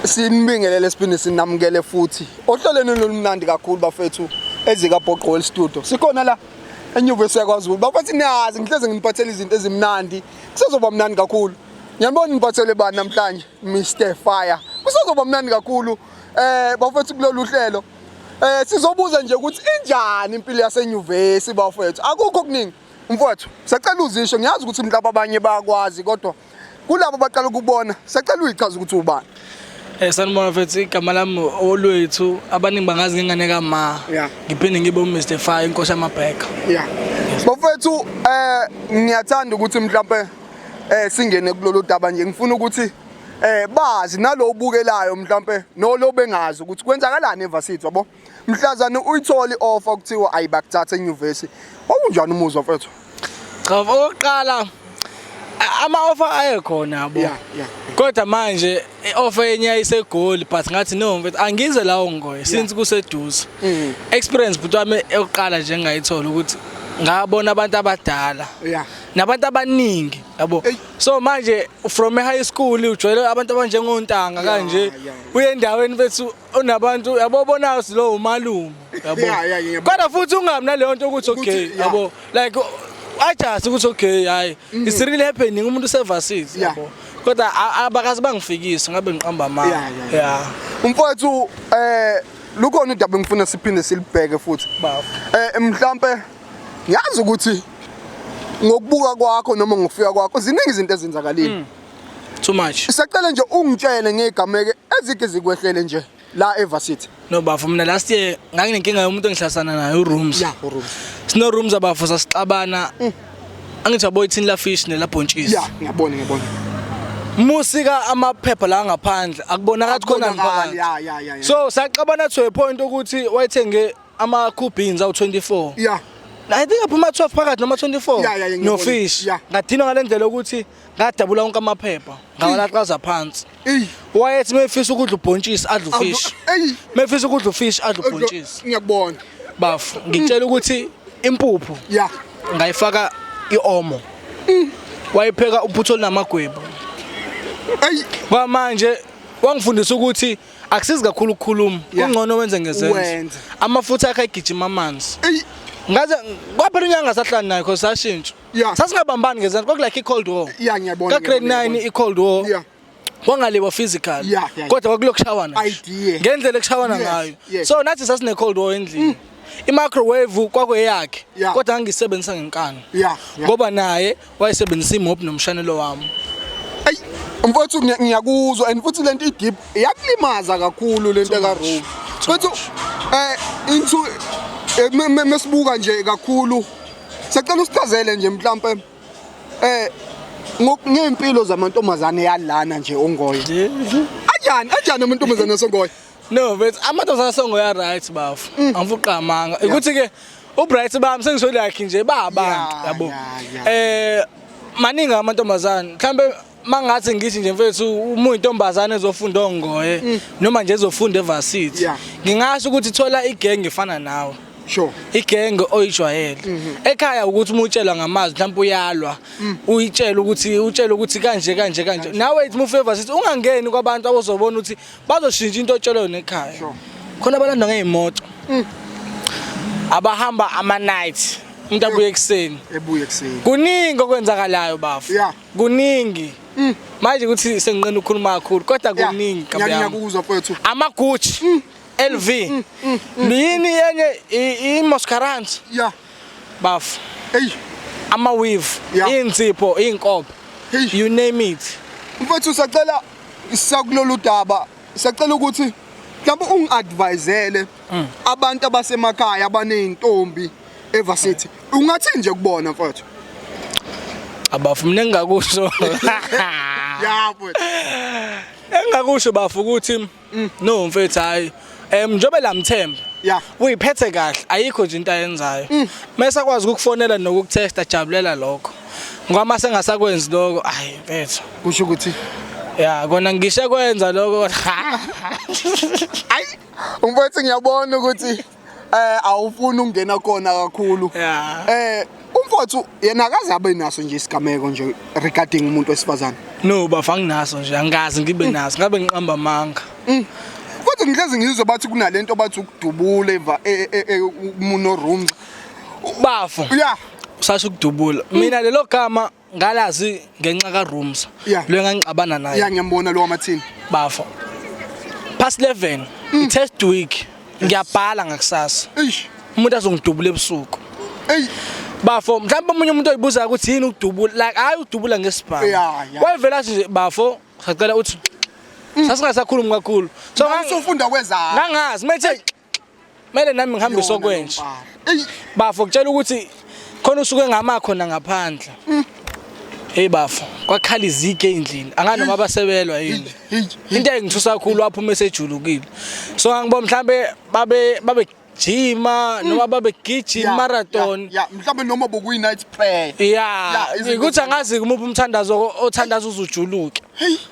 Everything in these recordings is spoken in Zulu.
Sinibingelele siphinde sinamukele futhi ohlelweni lolumnandi kakhulu bafethu ezika Boqol Studio. Sikhona la enyuvesi yakwaZulu. Bafethu niyazi ngihleze nginipathela izinto ezimnandi. Kusezoba mnandi kakhulu. Ngiyabona niphathele bani namhlanje Mr Fire. Kusezoba mnandi kakhulu eh bafethu kulolu hlelo. Eh sizobuza nje ukuthi injani impilo yasenyuvesi bafethu. Akukho kuningi. Mfowethu, sacela uzisho ngiyazi ukuthi mhlawumbe abanye bayakwazi kodwa kulabo baqala ukubona sacela uyichaza ukuthi ubani Eh sanibona mfethu igama lami olwethu abaningi bangazi ngengane ka ma. Yeah. Ngiphinde ngibe u Mr Fire inkosi yamabheka. Yeah. Bafethu eh ngiyathanda ukuthi mhlawumbe eh singene kulolu daba nje ngifuna ukuthi eh bazi nalobukelayo mhlawumbe nolo bengazi ukuthi kwenzakalani eVarsity yabo mhlazane uyithola i-offer kuthiwa ayibakuthatha enyuvesi wawunjani umuzwa mfethu cha okokuqala ama-offer ayekhona yabo yeah, yeah. kodwa manje i-offer yenye yayisegoli but ngathi no mfethu angize lawo ngoye since kuseduze mm. experience bhuti wami eyokuqala nje engayithola ukuthi ngabona abantu abadala yeah nabantu abaningi yabo so manje from high school ujwayele abantu abanjengontanga kanje uye endaweni bethu unabantu yabo bona silo umalume yabo Yeah, yeah, ngiyabona. kodwa futhi ungabi naleyo nto ukuthi okay Ukuthi, yeah. yabo like ajasi ukuthi okay hayi it's really happening umuntu usevasile Yeah. yabo kodwa a- abakazi bangifikisi ngabe ngiqamba Yeah, amanga yeah, yeah. yeah Mfowethu eh lukhona udaba engifuna siphinde silibheke futhi. bafo Eh mhlambe ngiyazi ukuthi ngokubuka kwakho noma ngokufika kwakho ziningi izinto ezenzakalile. too much sacela nje ungitshele ngegameke ezike zikwehlele nje la evarsity no bafo mina last year nganginenkinga yomuntu engihlasana naye urooms ya urooms sino rooms abafo sasixabana mm. angithi aboy thini la fish ne la bhontshisi ya ngiyabona ngiyabona musika amaphepha la ngaphandle akubonakala ukuthi khona ngiphansi so saxabana to a point ukuthi wayethenge ama cool beans awu 24 yeah I think aphuma 12 phakathi noma 24 no fish ngadinwa ngalendlela ukuthi ngadabula wonke amaphepha ngawalaxaza phansi wayethi mefisa ukudla ubhontshisi adla ufishi mefisa ukudla ufishi adla ubhontshisi ngiyakubona bafu ngitshela ukuthi impuphu ya ngayifaka iomo mm. wayipheka uphutho linamagwebu ayi kwamanje wangifundisa ukuthi akusizi kakhulu ukukhuluma kungcono wenze ngezenzo amafutha akhe ayigijima amanzi ngaze kwaphela unyanga sahlani naye cause sashintsha yeah. sasingabambani ngezansi kwaku like i-cold war yeah, ngiyabona, ka grade ngiyabona, 9 ngiyabona. i-cold war Yeah. kwangaliwa physical Yeah, yeah. kodwa kwakulokushawana nje. Idea. ngendlela ekushawana Yes, ngayo yes. so nathi sasine-cold war endlini i-microwave kwakweyakhe Yeah. kodwa ngangiyisebenzisa ngenkani Yeah, yeah. ngoba naye wayesebenzisa imop nomshanelo wami Ayi, mfowethu ngiya- ngiyakuzwa and futhi lento idip yakulimaza kakhulu lento ka Rome. Mfowethu eh into eh, me- me- mesibuka nje kakhulu Sacela usichazele nje mhlampe eh ngempilo zamantombazane yalana nje ongoye. Anjani anjani amantombazane asongoye? No, but amantombazane asongoye are right bafu. Mm. Angifuqamanga. Ukuthi ke uBright bami sengisho lakhe nje babantu yabo. Eh maningi amantombazane mhlambe mangathi ngithi nje mfethu uma uyintombazane ezofunda ongoye mm. noma nje ezofunda evarsity ngingasho ukuthi thola igenge efana nawe sure igenge oyijwayele mhm. ekhaya ukuthi uma utshelwa ngamazwi mhlawumbe uyalwa mm. uyitshela ukuthi utshela ukuthi kanje kanje kanje nawe ithi mufavor sithi ungangeni kwabantu abozobona ukuthi bazoshintsha into otshelwe yona ekhaya khona abalanda ngeemoto mm. abahamba ama night umuntu abuye ekuseni ebuye ekuseni kuningi okwenzakalayo bafu yeah kuningi manje ukuthi senginqena ukukhuluma kakhulu kodwa Yeah, kuningi ngiya- Gabiyami. ngiyakuzwa mfowethu amagucci Mm. lv yini yenye i- imascarant ya bafo eyi amaweave Yeah. iy'nsipho iy'nkobe Hey. you name it mfowethu sacela sakulolu daba Siyacela ukuthi mhlawumbe ungi-advisele mm. abantu abasemakhaya abaney'ntombi evasithi ungathini nje kubona mfowethu abafu mina engingakusho ya mfowethu engingakusho bafu ukuthi mm. no mfethu hayi um njengoba lamthemba ya uyiphethe kahle ayikho nje into ayenzayo mm. mese akwazi ukukufonela nokukutesta jabulela lokho ngoba mase ngasakwenzi lokho ayi mfethu kusho ukuthi ya kona ngishe kwenza lokho ayi umfethu ngiyabona ukuthi eh awufuni ukungena kona kakhulu eh umfowethu yena akaze abe naso nje isigameko nje regarding umuntu wesifazane no bafa nginaso nje angikazi ngibe mm. naso ngabe ngiqamba amanga mm. kodwa ngihlezi ngizwe bathi kunalento bathi ukudubula eva e, e, e, umuno room Bafo. Yeah. Usasho ukudubula. Mm. Mina lelo gama ngalazi ngenxa ka rooms. Yeah. Lo engangixabana naye. Yeah ngiyambona lo wamathini. Bafo. Past 11. Mm. Test week. Ngiyabhala ngakusasa. Eish. Umuntu azongidubula ebusuku. Ey. Bafo, mhlawumbe umunye umuntu oyibuza ukuthi yini ukudubula. Like hayi udubula ngesibhamu. Yeah, yeah. Wayevela nje bafo, sacela uthi Mm. sasingasakhulumi kakhulu so ngisofunda kwezakho ngangazi methe Mele nami ngihambise okwenje. Bafo kutshela ukuthi khona usuke ngama khona ngaphandle. Mm. Hey bafo, kwakhala izike endlini. Angani noma basebelwa yini. Into engithusa kakhulu waphuma esejulukile. So angibo mhlambe babe babe jima mm. noma babe gijima marathon ya mhlawumbe noma bokuyi night prayer ya ukuthi angazi kumuphi umthandazo othandaza uzujuluke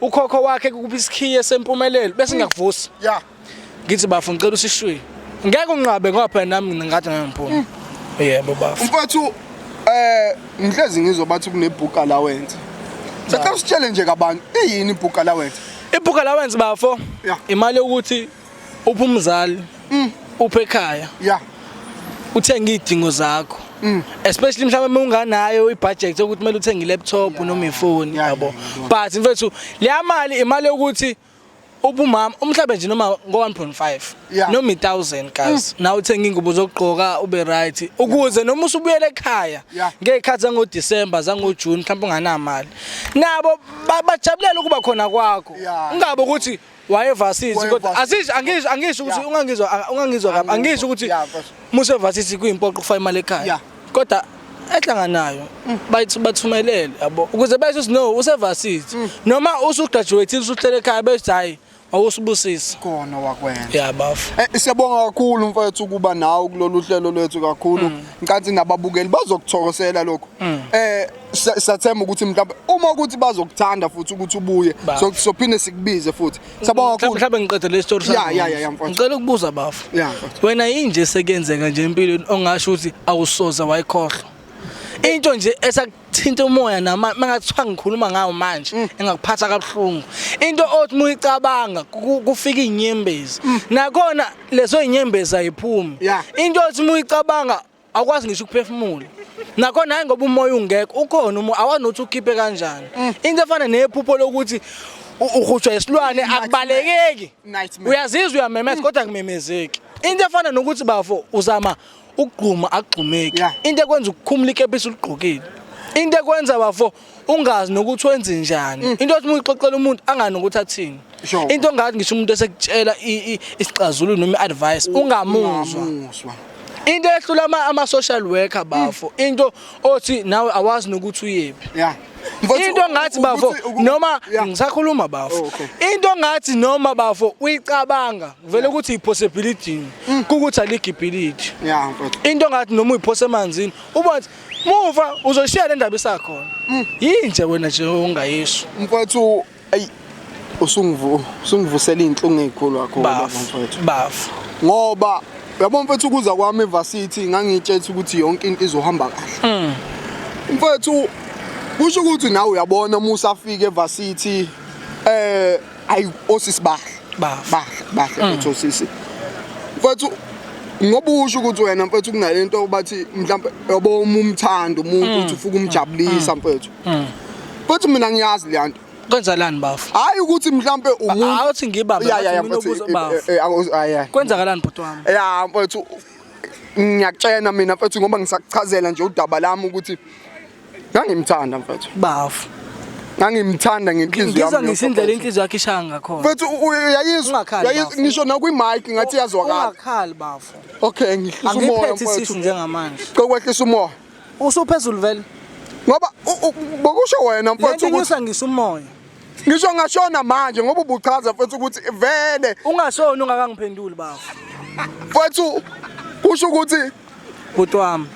ukhokho wakhe kukuba isikhiye sempumelelo bese ngakuvusa ya ngithi bafo ngicela usishwiye ngeke unqabe ngoba phela nami ngathi ngeke ngiphume mm. yebo bafo mfowethu eh ngihlezi ngizwa bathi kunebook allowance sacela usitshele nje kabantu iyini ibook allowance ibook allowance bafo imali yokuthi upha umzali mm. upha ekhaya yeah uthenge idingo zakho mm. especially mhlawumbe unganayo ibudget ukuthi kumele uthenge laptop noma ifoni yabo but mfethu leya mali imali yokuthi ubumama umhlabe nje noma ngo-1.5 noma i-1000 guys mm. na uthenge ingubo zokugqoka ube right ukuze noma usubuyele ekhaya ngey'khathi zangodisemba zangojuni mhlawumbe unganamali nabo bajabulela ukuba khona kwakho ungabe ukuthi wayevasithi kodwa asisho angisho angisho ukuthi ungangizwa ungangizwa kabi angisho ukuthi musevasithi kuyimpoqo kufa imali ekhaya kodwa ehlanganayo mm. bayithi bathumelele yabo ukuze besho ukuthi no usevasithi mm. noma usugraduate usuhlele ekhaya bethi hayi awusibusisi khona wakwenza ya bafo eh, siyabonga kakhulu mfethu ukuba nawe kulolu hlelo lwethu kakhulu mm. ngicathi nababukeli bazokuthokosela lokho eh Sa- sathemba ukuthi mhlawumbe uma ukuthi bazokuthanda futhi ukuthi ubuye Ba- so- sophinde sikubize futhi sabonga Mhlawumbe kakhulu mhlawumbe ngiqede le story Ya, sakho. ya, ya, ya, mfowethu. Ngicela ukubuza bafo. Ya, mfowethu. Wena yinje sekenzeka nje empilweni ongasho ukuthi awusoze wayikhohlwa. Into nje esakuthinta umoya nama mangathiwa ngikhuluma ngawo manje Mm. engakuphatha kabuhlungu. Into othi muyicabanga ku- kufika inyembezi. Nakhona leso inyembezi ayiphumi. Mm. Ya. Into othi muyicabanga awukwazi ngisho ukuphefumula nakho naye ngoba umoya ungekho ukhona umoya awanothi ukhiphe kanjani mm. into efana nephupho lokuthi uhutshwa isilwane akubalekeki uyazizwa uyamemeza mm. kodwa kumemezeki into efana nokuthi bafo uzama ukugquma akugqumeki into ekwenza ukukhumula ikepisi uligqokile into ekwenza bafo ungazi nokuthi wenze njani mm. into othi uyixoxela umuntu angani ukuthi athini into ngathi ngisho umuntu esekutshela isixazululo noma advice ungamuzwa into ehlula ama ama social worker bafo mm. into othi nawe awazi nokuthi uyephi yeah into ngathi bafo noma ngisakhuluma bafo oh, into ngathi noma bafo uyicabanga vele ukuthi ipossibility mm. ukuthi aligibhility into ngathi noma uyiphose emanzini uba Muva uzoshiya le ndaba isakhona. Mm. Yini nje wena nje ungayisho. Mfowethu ayi usungivu usungivusela inhlungu ezikhulu kakhulu mfowethu. Bafu. Ngoba yabo mfowethu ukuza kwami eVarsity ngangitshethe ukuthi yonke into izohamba kahle. Mm. Mfowethu kusho ukuthi nawe uyabona uma usafika eVarsity eh ayi osisi bahle bahle bahle mm. futhi osisi mfethu ngoba usho ukuthi wena mfethu kunale nto bathi mhlawumbe yobo uma umthanda umuntu mm. uthi ufuka umjabulisa mm. mfethu mfethu mina ngiyazi le nto kwenzakalani bafo hayi ukuthi mhlambe umuntu awuthi ngibambe mina eh, eh, bafo ah, kwenzakalani bhuti wami ya mfethu ngiyakutshena mina mfethu ngoba ngisakuchazela nje udaba lami ukuthi ngangimthanda mfethu bafu ngangimthanda ngenhliziyo yami ngizwa ngisindlela inhliziyo yakhe ishaya ngakhona mfethu uyayizwa ngisho nakwi mic ngathi yazwakala ungakhali bafu okay ngihlisa umoya mfethu angiphethe isisu njengamanje kokwehlisa umoya usuphezulu vele ngoba bokusho wena mfethu ukuthi ngisa umoya ngisho ngashona manje ngoba ubuchaza mfethu ukuthi vele ungashona ungakangiphenduli bafu mfethu kusho ukuthi bhuti wami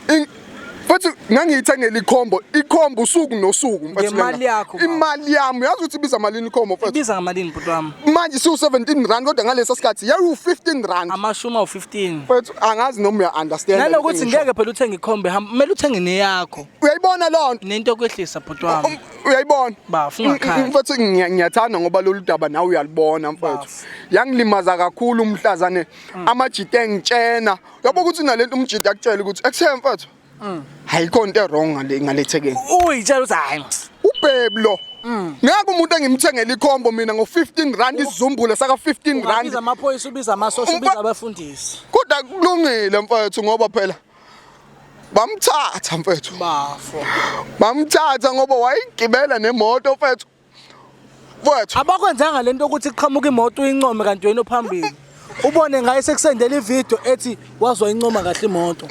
futhi ngangiyithengela ikhombo ikhombo usuku nosuku ngemali yakho imali yami uyazi ukuthi ibiza malini ikhombo futhi ibiza ngamalini bhuti wami manje siwu 17 rand kodwa ngalesa sikhathi yawu 15 rand amashuma u15 futhi angazi noma uya understand nalokuthi ngeke phela uthenge ikhombo hamba kumele uthenge neyakho uyayibona lonto nento okwehlisa bhuti wami um, uyayibona bafu ngakhaya mfethu mm, mm, ngiyathanda ngoba lolu daba nawe uyalibona mfethu yangilimaza kakhulu umhlazane mm. amajite ngitshena yabo ukuthi nalento umjida akutshela ukuthi ekuthe mfethu mm. ayikho into erong ngale ngalethekeni uyitshela ukuthi hayi ubhebi lo mm. ngeke umuntu engimthengela ikhombo mina ngo-15 rand isizumbule saka-15 rand amaphoyisa ubiza amasosha ubiza abafundisi kodwa kulungile mfethu ngoba phela bamthatha mfethu bafo bamthatha ngoba wayigibela nemoto mfethu Mfowethu. Abakwenzanga lento ukuthi kuqhamuka imoto uyincome kanti wena ophambili. Ubone ngaye sekusendela ivideo ethi wazwa incoma kahle imoto.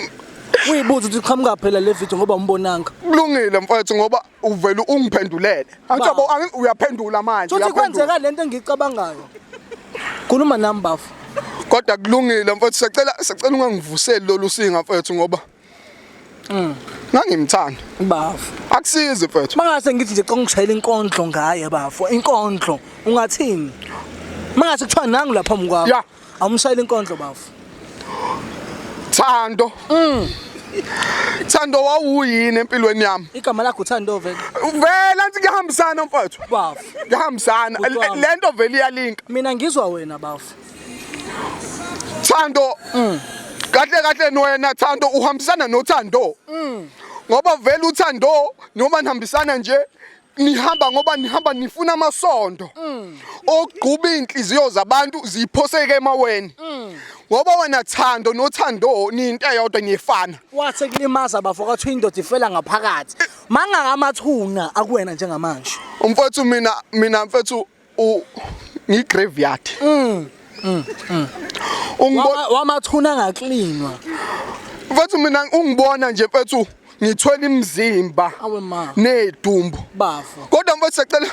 Uyibuza ukuthi qhamuka phela le video ngoba umbonanga. Kulungile mfowethu ngoba uvela ungiphendulele. Angithi yabo uyaphendula manje. Futhi kwenzeka lento engicabangayo. Khuluma nami bafo. Kodwa kulungile mfowethu sicela sicela ungangivuseli lolu singa mfowethu ngoba Mm. Ngangimthanda. Bafo. Akusizi mfethu. Mangase ngithi nje congishayela inkondlo ngaye bafo. Inkondlo ungathini? Mangase kuthiwa nangu lapha mkwakho. Yeah. Awumshayela inkondlo bafo. Thando. Mm. Thando wawuyini empilweni yami? Igama lakho Thando vele. Vela nti ngihambisana mfowethu. Bafo. Ngihambisana. Lento vele iyalinka. Mina ngizwa wena bafo. Thando mm. kahle kahle nwena Thando uhambisana noThando mm. ngoba vele uThando noma nihambisana nje nihamba ngoba nihamba nifuna amasondo mm. ogquba inhliziyo zabantu ziphoseke emaweni mm. ngoba wena thando nothando ninto eyodwa niyefana wathe kulimaza bafo kathi indoda ifela ngaphakathi mangaka amathuna akuwena njengamanje umfethu mina mina mfethu u ngi graveyard mm, mm, mm. ungibona wamathuna ngaklinwa mfethu mina ungibona nje mfethu ngithwele imizimba nedumbu bafo kodwa mfethu sacela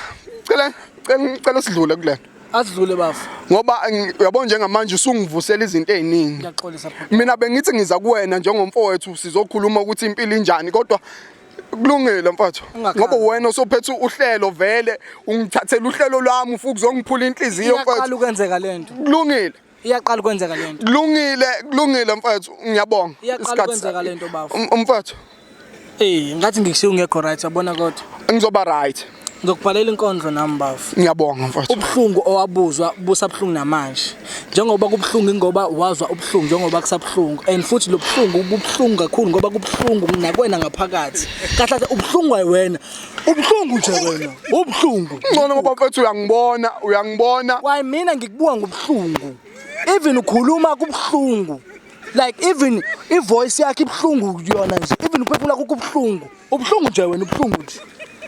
cela cela cela sidlule kulento asidlule bafo ngoba uyabona njengamanje usungivusela izinto eziningi ngiyaxolisa mina bengithi ngiza kuwena njengomfowethu sizokhuluma ukuthi impilo injani kodwa kulungile mfowethu ngoba wena osophethe uhlelo vele ungithathela uhlelo lwami ufuku zongiphula inhliziyo mfowethu iyaqala ukwenzeka lento kulungile iyaqala ukwenzeka lento kulungile kulungile mfowethu ngiyabonga iyaqala ukwenzeka lento bafo um, mfowethu eh ngathi ngikushiya ungekho right yabona kodwa ngizoba right Ngizokubhalela inkondlo nami bafo. Ngiyabonga mfowethu. Ubuhlungu owabuzwa busabuhlungu namanje. Njengoba kubuhlungu ingoba wazwa ubuhlungu njengoba kusabuhlungu and futhi lobuhlungu bubuhlungu kakhulu ngoba kubuhlungu nakwena ngaphakathi. Kahle kahle ubuhlungu wena. Ubuhlungu nje wena. Ubuhlungu. Ngcono ngoba mfowethu uyangibona, uyangibona. Why mina ngikubuka ngobuhlungu. Even ukhuluma kubuhlungu. Like even ivoice yakhe ibuhlungu yona nje. Even uphefumula kubuhlungu. Ubuhlungu nje wena ubuhlungu nje.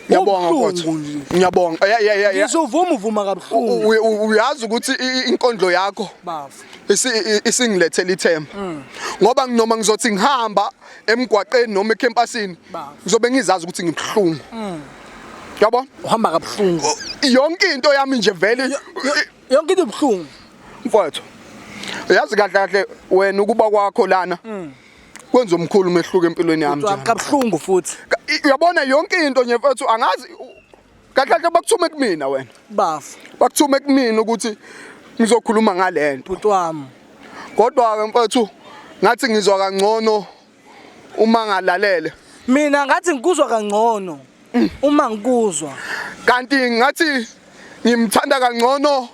Ngiyabonga mfowethu. Ngiyabonga. Yeah yeah yeah. Ngizovuma uvuma kabuhlungu. Uyazi ukuthi inkondlo yakho bafu isingilethela ithemba. Mm. Ngoba nginoma ngizothi ngihamba emgwaqeni noma ekhempasini ngizobe ngizazi ukuthi ngibuhlungu. Mm. Yabo? Uhamba kabuhlungu. Yonke into yami nje vele yonke into ibuhlungu. Mfowethu. Uyazi kahle kahle wena ukuba kwakho lana. Mm. kwenza omkhulu umehluko empilweni yami Ucwaba kabuhlungu futhi. uyabona yonke into nje mfethu angazi kahle kahle bakuthume kumina wena Bafo. bakuthume kumina ukuthi ngizokhuluma ngalento bhuti wami kodwa ke mfethu ngathi ngizwa kangcono uma ngalalele mina ngathi ngikuzwa kangcono mm. uma ngikuzwa kanti ngathi ngimthanda kangcono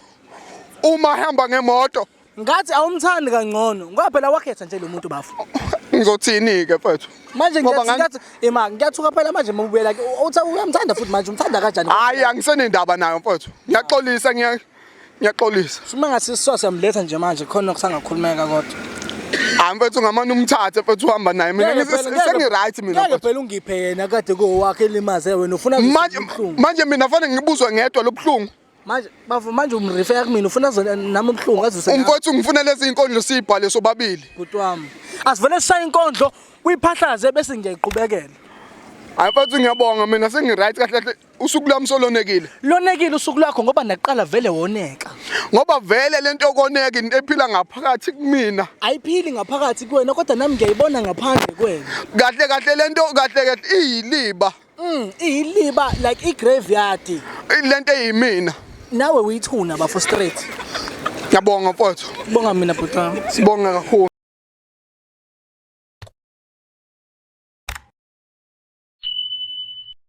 uma hamba ngemoto Ngathi awumthandi kangcono ngoba phela wakhetha nje lo muntu bafo. Ngizothini ke mfethu? Manje ngiyathi ema ngiyathuka phela manje mawubuyela ke uthi uyamthanda futhi manje umthanda kanjani? Hayi angisenendaba nayo mfethu. Ngiyaxolisa ngiya ngiyaxolisa. Sima ngasiswa siyamletha nje manje khona kusangakhulumeka kodwa. Hayi mfethu ngamane umthathe mfethu uhamba naye mina sengi right mina. Ngeke phela ungiphe yena kade kowakhe elimaze wena ufuna manje manje mina fanele ngibuzwe ngedwa lobuhlungu. manje bavu manje umrifeya kumina ufuna zona nami ubuhlungu azuse umfowethu ngifuna lezi inkondlo siyibhale sobabili bhuti wami asivele sishaye inkondlo uyiphahlaze bese ngiyayiqhubekela hayi mfowethu ngiyabonga mina sengi-right kahle kahle usuku lwami solonekile lonekile usuku lwakho ngoba nakuqala vele woneka ngoba vele le nto yokoneka into ephila ngaphakathi kumina ayiphili ngaphakathi kuwena kodwa nami ngiyayibona ngaphandle kwena kahle kahle le nto kahle kahle iyiliba Mm, iyiliba like igraveyard. Ilento eyimina. Nawe uyithuna bafo straight. Ngiyabonga mfowethu. Bonga mina bhuti wami. Sibonga kakhulu.